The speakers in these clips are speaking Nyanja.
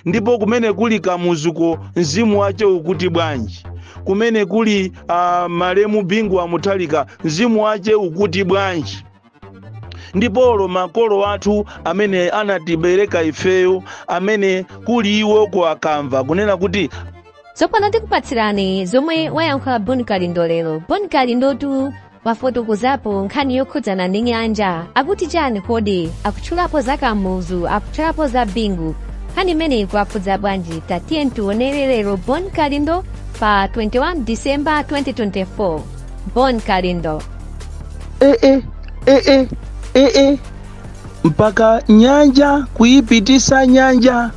ndipo kumene kuli kamuzuko mzimu wace ukuti bwanji kumene kuli uh, malemu bingu wa muthalika mzimu wace ukuti bwanji ndipolo makolo athu amene anatibereka ifeyo amene kuli iwo ku akamva kunena kuti tsopano tikupatsirani zomwe wayankhula bon kalindo lero bon kalindotu wafotokozapo nkhani yokhudzana ndi nyanja akuti chani kodi akutchulapo za kamuzu akutchulapo za bingu nkhani imeneyi ikuwakhudza bwanji tatiyeni tionere lero bon kalindo pa 21 disemba 2024 bon kalindo eh, eh, eh, eh, eh, eh. mpaka nyanja kuyipitisa nyanja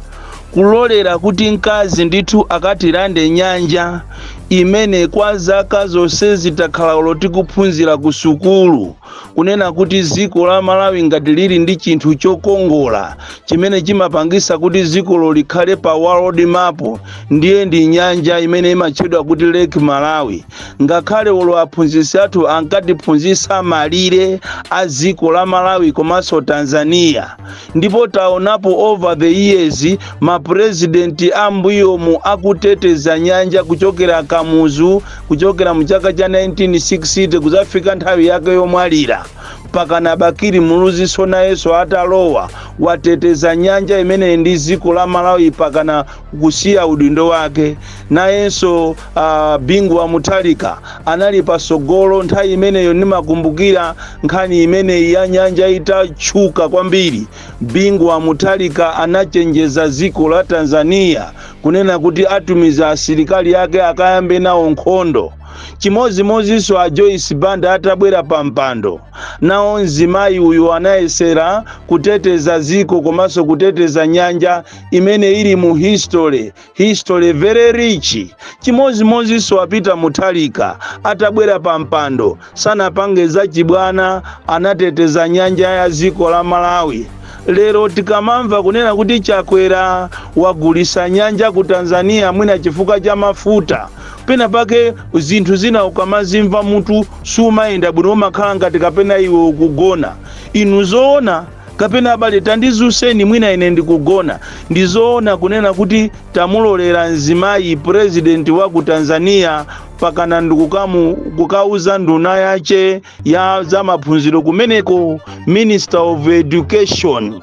kulolera kuti mkazi ndithu akatilande nyanja imene kwa zaka zonsezi takhala olo tikuphunzira ku sukulu kunena kuti dziko la malawi ngati lili ndi chinthu chokongola chimene chimapangisa kuti dzikolo likhale pa world map ndiye ndi nyanja imene imatchedwa kuti lake malawi ngakhale olo aphunzitsi athu ankatiphunzitsa malire a dziko la malawi komanso tanzania ndipo taonapo over the years ma president ambuyomu akuteteza nyanja kuchokera kamuzu kuchokera mu chaka cha 1960 kuzafika nthawi yake yomwalira mpakana bakili muluziso nayenso atalowa wateteza nyanja imene ndi dziko la malawi mpakana kusiya udindo wake nayenso Uh, Bingu wa Mutharika anali pasogolo nthawi imeneyo. Ndimakumbukira nkhani imeneyi ya nyanja itatchuka kwambiri. Bingu wa Mutharika anachenjeza dziko la Tanzania kunena kuti atumiza asilikali ake akayambe nawo nkhondo. Chimodzimodzinso a Joyce Banda atabwera pa mpando, nawo mzimayi uyu anayesera kuteteza dziko komanso kuteteza nyanja imene ili mu history History very rich. Chimodzimodzinso a Peter Mutharika atabwera pa mpando sanapange zachibwana, anateteza nyanja ya dziko la Malawi. Lero tikamamva kunena kuti Chakwera wagulisa nyanja ku Tanzania mwina chifukwa cha mafuta pena pake zinthu zina ukamazimva mutu sumayenda bwino, umakhala ngati kapena iwe ukugona. Inu zoona kapena abale tandidzutseni mwina ine ndikugona ndizoona kunena kuti tamulolera mzimayi president wa ku tanzania mpakana ndikukauza nduna yace ya za maphunziro kumeneko minister of education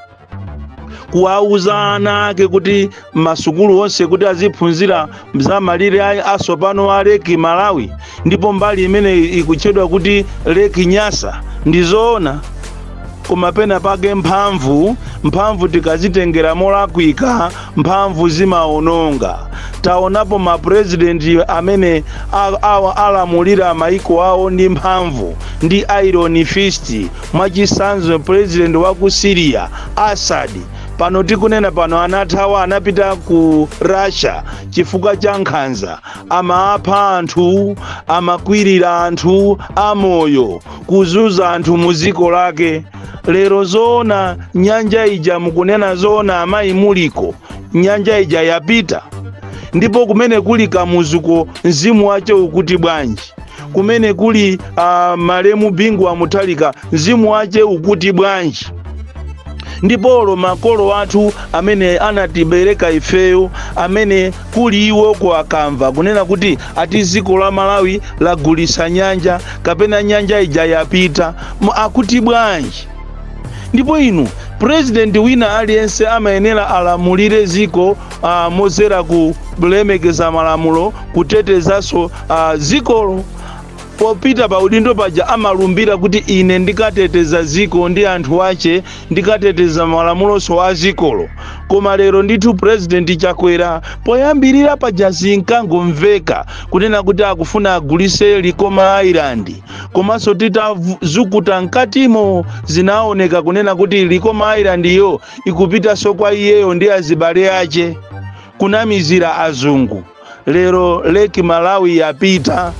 kuwauza ana ake kuti masukulu onse kuti aziphunzira za malire a- atsopano a leki malawi ndipo mbali imene ikutchedwa kuti leki nyasa ndi zoona koma pena pake mphamvu mphamvu tikazitengera molakwika mphamvu zimaononga taonapo mapurezidenti amene a- awa alamulira maiko awo ndi mphamvu ndi iron fist mwachitsanzo purezidenti wa ku syria asadi pano tikunena pano anathawa anapita ku russia chifukwa cha nkhanza amapha anthu amakwirira anthu amoyo kuzuza anthu mu dziko lake lero zoona nyanja ija mukunena zoona amayi muli uko nyanja ija yapita ndipo kumene kuli kamuzuko mzimu wace ukuti bwanji kumene kuli uh, malemu bingu wa muthalika mzimu wace ukuti bwanji ndipolo makolo athu amene anatibereka ifeyo kumene kuli iwoko akamva kunena kuti ati dziko la malawi lagulisa nyanja kapena nyanja ija yapita Mu- akuti bwanji ndipo inu purezidenti wina aliyense amayenera alamulire dziko uh, modzera ku kulemekeza malamulo kutetezanso uh, dzikolo popita pa udindo paja amalumbira kuti ine ndikateteza dziko ndi anthu ache ndikateteza malamuloso a dzikolo koma lero ndithu purezidenti chakwera poyambirira paja zinkangomveka kunena kuti akufuna agulise likoma island komanso titazukuta mkatimo zinaoneka kunena kuti likoma island iyo ikupitanso kwa iyeyo ndi azibale ache kunamizira azungu Lero Lake Malawi yapita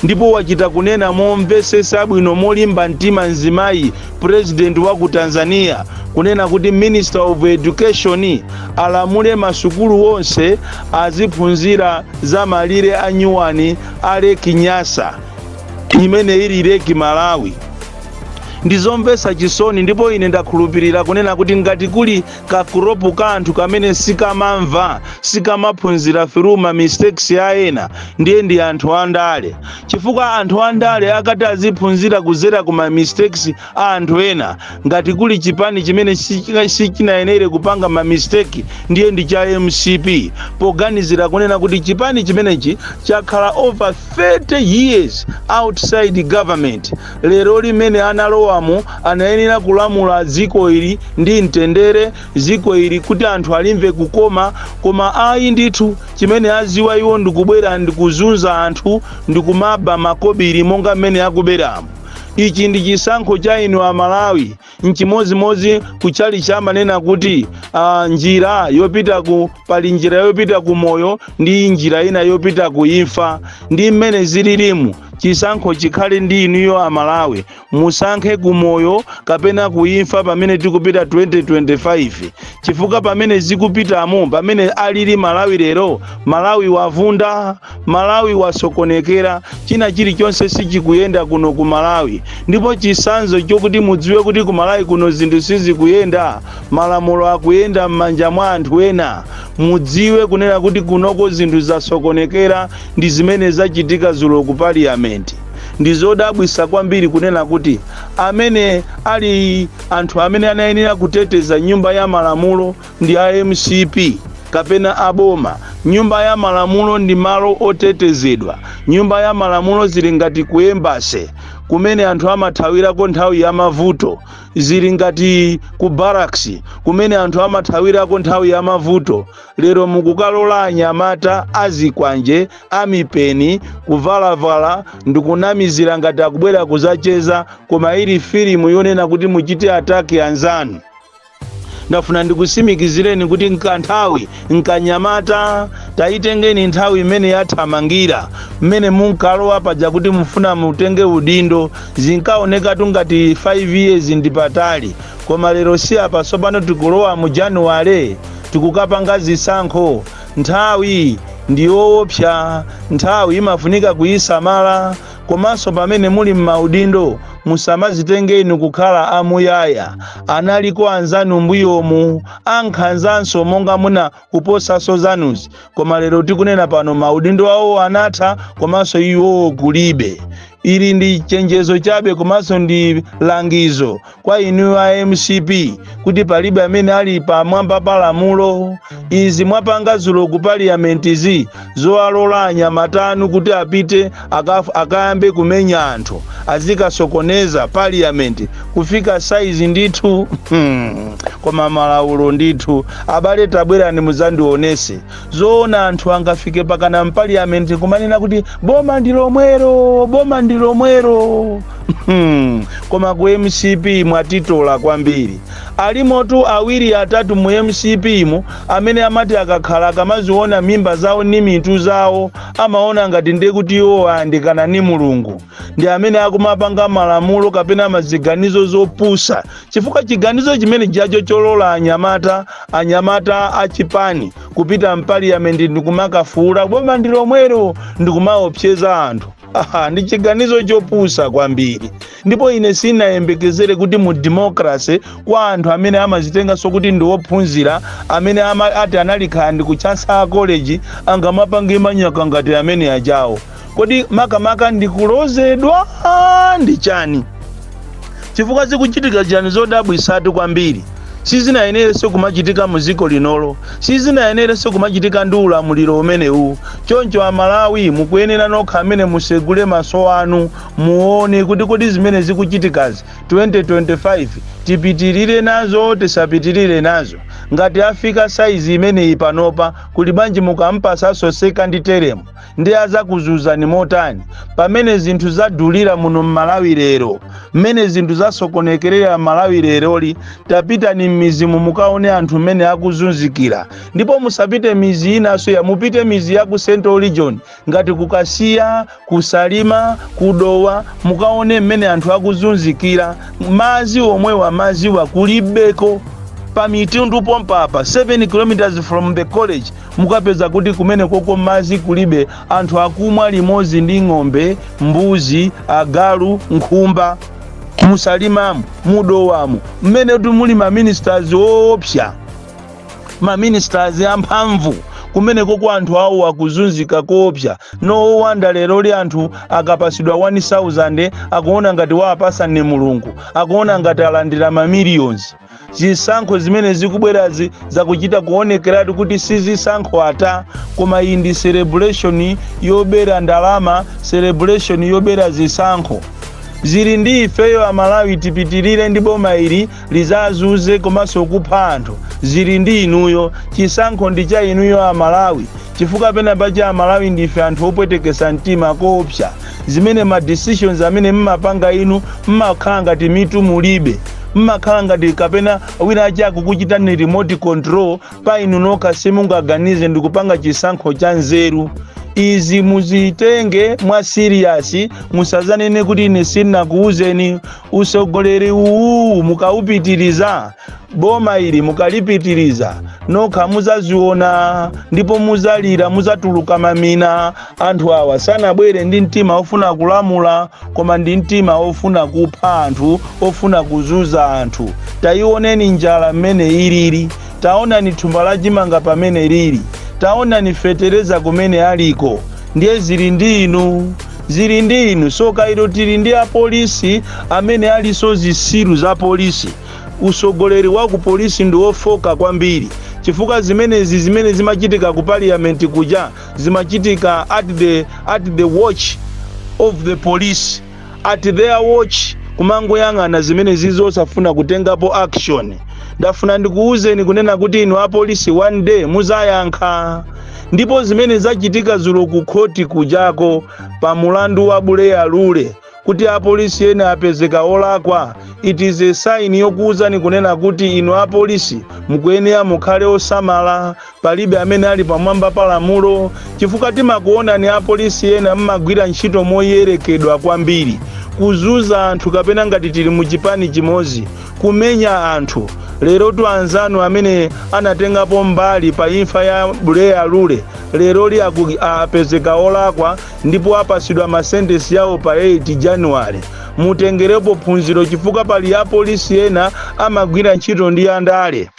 ndipo wachita kunena momvesesa bwino molimba mtima mzimayi president wa ku Tanzania kunena kuti Minister of Education alamule masukulu wonse aziphunzira za malire a nyuwani a Lake Nyasa imene ili Lake Malawi. Ndizomvesa chisoni ndipo ine ndakhulupirira kunena kuti ngati kuli kagulupu ka anthu kamene sikamamva sikamaphunzira through ma mistakes a ena ndiye ndi anthu andale chifukwa anthu andale akati aziphunzira kuzera ku ma mistakes a anthu ena ngati kuli chipani chimene sichina- sichinayenere kupanga ma mistake ndiye ndi cha mcp poganizira kunena kuti chipani chimenechi chakhala over 30 years outside government Lero lino mmene analowamo, anayenera kulamula dziko ili ndi mtendere, dziko ili kuti anthu alimve kukoma, koma ayi ndithu, chimene adziwa iwo ndi kubwera ndi kuzunza anthu ndi kumaba makobiri monga m'mene akuberamo. Ichi ndi chisankho cha inu a Malawi. nchimodzimodzi ku tchalitchi amanena kuti ah, njira yopita ku pali njira yopita ku moyo ndi njira ina yopita ku imfa ndi mmene zililimu chisankho chikhale ndi inuyo amalawi musankhe ku moyo kapena ku imfa pamene tikupita 2025 chifukwa pamene zikupitamo pamene alili malawi lero malawi wavunda Malawi wasokonekera china chilichonse sichikuyenda kuno ku Malawi ndipo chisanzo chokuti mudziwe kuti ku Malawi kuno zinthu sizikuyenda malamulo akuyenda m'manja mwa anthu ena mudziwe kunena kuti kunoko zinthu zasokonekera ndi zimene zachitika zulo ku parliament ndizodabwisa kwambiri kunena kuti amene ali anthu amene anayenera kuteteza nyumba ya malamulo ndi a mcp kapena a boma. Nyumba ya malamulo ndi malo otetezedwa. Nyumba ya malamulo zili ngati ku embassy kumene anthu amathawirako nthawi ya mavuto, zili ngati ku barracks kumene anthu amathawirako nthawi ya mavuto. Lero mukukalola anyamata azikwanje amipeni kuvalavala ndikunamizira ngati akubwera kuzacheza, koma ili filimu yonena kuti muchite attack anzanu. ndafuna ndikusimikizireni kuti nkanthawi nkanyamata tayitengeni nthawi imene yathamangira mmene munkalowa paja kuti mufuna mutenge udindo zinkaonekatu ngati 5 years ndi patali koma lero si apa sopano tikulowa mu januwale tikukapanga zisankho nthawi ndi yoopsa nthawi imafunika kuyisamala Komanso pamene muli m'maudindo, musamazitenge inu kukhala a muyaya. Analiko anzanu mbuyomu, a nkhanzanso monga muna kuposaso zanuzi, koma lero tikunena pano maudindo awowo anatha komanso iwowo kulibe. Ili ndi chenjezo chabe komanso ndi langizo kwa inu a mcp kuti palibe amene ali pamwamba pa lamulo izi mwapanga zulo ku parliamentizi zowalola anyamata anu kuti apite akaf- akayambe kumenya anthu azikasokoneza parliament kufika saizi ndithu hmm, koma malaulo ndithu abale tabwerani muzandionese Zoona anthu angafike pakana mpaliyamenti kumanena kuti boma ndi lomwero, boma ndi lomwero. Hmm, Koma ku mcp mwatitola kwambiri. Alimotu awiri atatu mu mcp mu amene amati akakhala akamaziona mimba zawo ni mitu zawo amaona ngati ndiye kuti iwo ayandikana ni Mulungu. Ndi amene akumapanga malamulo kapena maziganizo zopusa chifukwa chiganizo chimene chacho cholola anyamata a chipani kupita mpaliyamenti ndikumakafuula boma ndi lomwelo ndikumaopseza anthu aha ndi chiganizo chopusa kwambiri ndipo ine sinayembekezere kuti mu democracy kwa anthu amene amazitenganso kuti ndi ophunzira amene ati anali khala ndi ku Chancellor College angamapange manyaka ngati amene ajawo kodi makamaka ndi kulozedwa ndi chani chifukwa zikuchitika chani zodabwisatu kwambiri sizinayenerenso kumachitika mu dziko linolo sizinayenerenso kumachitika ndi ulamuliro umenewu choncho amalawi mukuyenera nokha amene musegule maso anu muone kuti kodi zimene zikuchitikazi 2025 tipitirire nazo tisapitirire nazo ngati afika saizi imeneyi panopa kuli banji mukampasaso second term nde azakuzuzani motani pamene zinthu zadulira muno m'malawi lero mmene zinthu zasokonekerera m'malawi leroli tapitani m'mizimu mukaone anthu mmene akuzunzikira ndipo musapite mizi inanso iyayi mupite mizi ya ku central region ngati ku Kasiya ku Salima ku Dowa mukaone mmene anthu akuzunzikira mazi omwewa maziwa kulibeko pa Mitundu pompapa 7 kilometers from the college Mukapeza kuti kumenekoko madzi kulibe, anthu akumwa limodzi ndi ng'ombe, mbuzi, agalu, nkhumba. Mu Salimamu, mu Dowamu, mmene ati muli ma ministers oopsa, ma ministers amphamvu, kumenekoko anthu awo akuzunzika koopsa. No wonder leroli anthu akapatsidwa 1,000 akuona ngati wawapatsa ndi Mulungu, akuona ngati alandira ma millions. zisankho zimene zikubwerazi zakuchita kuonekeratu kuti si zisankho ayi koma iyi ndi celebration yobera ndalama celebration yobera zisankho zili ndi ifeyo amalawi tipitirire ndi boma ili lizazuze komanso kupha anthu zili ndi inuyo chisankho ndi cha inuyo amalawi chifukwa penapake amalawi ndife anthu opwetekesa mtima koopsa zimene ma decisions amene mmapanga inu mmakhala ngati mitu mulibe mmakhala ngati kapena wina wake akukuchitani remote control pa inu nokha simungaganize ndikupanga chisankho cha nzeru izi muzitenge mwa serious musazanene kuti ine sinakuwuzeni usogoleri uwu mukawupitiriza boma ili mukalipitiriza nokha muzaziona ndipo muzalira muzatuluka mamina Anthu awa sanabwere ndi mtima ofuna kulamula koma ndi mtima ofuna kupha anthu, ofuna kuzunza anthu. Taionani njala mmene ilili, taonani thumba la chimanga pamene lili, taonani fetereza kumene aliko. Ndiye zili ndi inu, zili ndi inu. Soka ilo tili ndi apolisi amene alinso zisiru za polisi. Usogoleri wa ku polisi ndi ofoka kwambiri chifukwa zimenezi zimene zimachitika ku paliyamenti kuja zimachitika at the, at the watch of the police at their watch kumangoyang'ana zimenezi osafuna kutengapo action ndafuna ndikuwuzeni kunena kuti inu apolisi one day muzayankha ndipo zimene zachitika zulo ku khoti kujako pa mulandu wa Buleya Lule kuti apolisi ena apezeka olakwa it is a sign yokuwuzani kunena kuti inu apolisi mukuyenera mukhale osamala Palibe amene ali pamwamba pa lamulo, chifukwa timakuonani apolisi ena mmagwira ntchito moyerekedwa kwambiri, kuzuza anthu kapena ngati tili mu chipani chimozi kumenya anthu, lerotu anzanu amene anatengapo mbali pa imfa ya Buleya Lule leroli aku apezeka olakwa ndipo apasidwa ma sentence yawo pa 8 January, mutengerepo phunziro chifukwa pali apolisi ena amagwira ntchito ndi andale.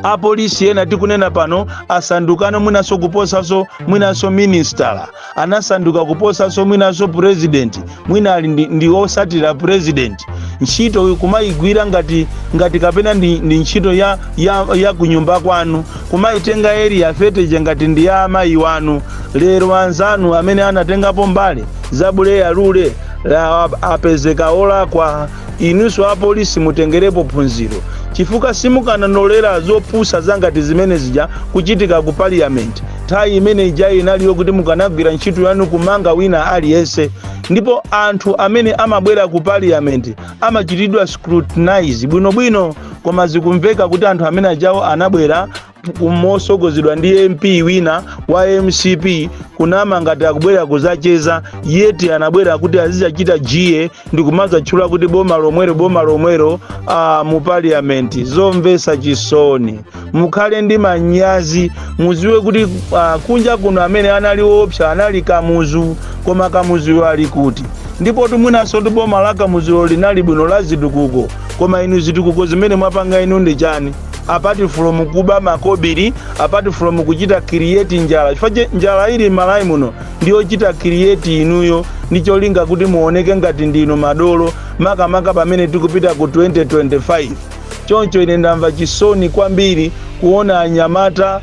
apolisi ena tikunena pano asandukano mwinanso kuposanso mwinanso minisitala anasanduka kuposanso mwinanso purezidenti mwina ali ndi, ndi osatira purezidenti ntchito kumayigwira ngati ngati kapena ndi, ndi ntchito ya, ya, ya kunyumba kwanu kumayitenga Area 30 ija ngati ndi ya amayi wanu lero anzanu amene anatengapo mbali za Buleya Lule la- apezeka olakwa Inunso apolisi mutengerepo phunziro chifukwa simukananolera zopusa zangati zimene zija kuchitika ku parliament. Nthawi imene ija inali yokuti mukanagwira ntchito yanu kumanga wina aliyense ndipo anthu amene amabwera ku parliament amachitidwa scrutinize bwinobwino koma zikumveka kuti anthu amene ajawo anabwera mosogozedwa ndi MP wina wa MCP kunama ngati akubwera kuzacheza yet anabwera kuti azizachita jeer ndi kumazatchula kuti boma lomwero boma lomwero ah, mu parliament zomvesa chisoni mukhale ndi manyazi muziwe kuti ah, kunja kuno amene anali opsa anali Kamuzu koma Kamuzuyo ali kuti ndipotu mwinanso ndi boma la Kamuzulo linali bwino la zitukuko koma inu zitukuko zimene mwapanga inu ndi chani apart from kuba makobiri apart from kuchita create njala chifukwa njala ili malawi muno ndiyochita create inuyo ndi cholinga kuti muoneke ngati ndinu madolo makamaka pamene tikupita ku 2025 choncho ine ndamva chisoni kwambiri kuona anyamata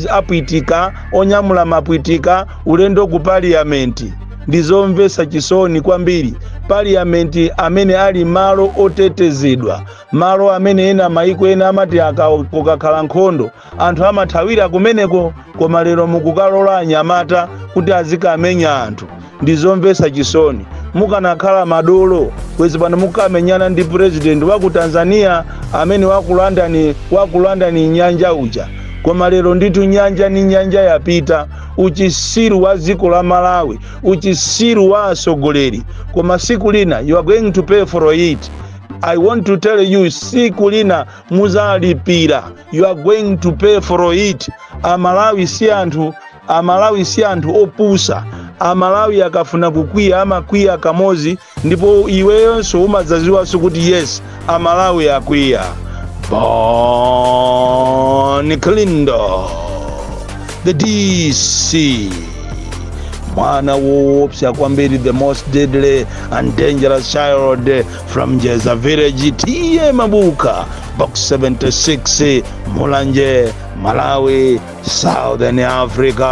apwitika onyamula mapwitika ulendo ku parliamenti ndizomvetsa chisoni kwambiri parliamenti amene ali malo otetezedwa malo amene ena maiko ena amati aka kukakhala nkhondo anthu amathawira kumeneko koma lero mukukalola anyamata kuti azikamenya anthu ndi zomvetsa chisoni mukanakhala madolo kwezi pano mukamenyana ndi purezidenti wa ku tanzania amene wakulandani nyanja uja koma lero ndithu nyanja ni nyanja yapita uchisiru wa dziko la malawi uchisiru wa atsogoleri koma siku lina you are going to pay for it I want to tell you siku lina muzalipira you are going to pay for it amalawi si anthu opusa amalawi akafuna kukwiya amakwiya kamozi ndipo iweyonso umadzaziwanso kuti yes amalawi akwiya bon kalindo the dc mwana woopsa kwambiri the most deadly and dangerous child from jeza village tiye mabuka box 76 mulanje malawi southern africa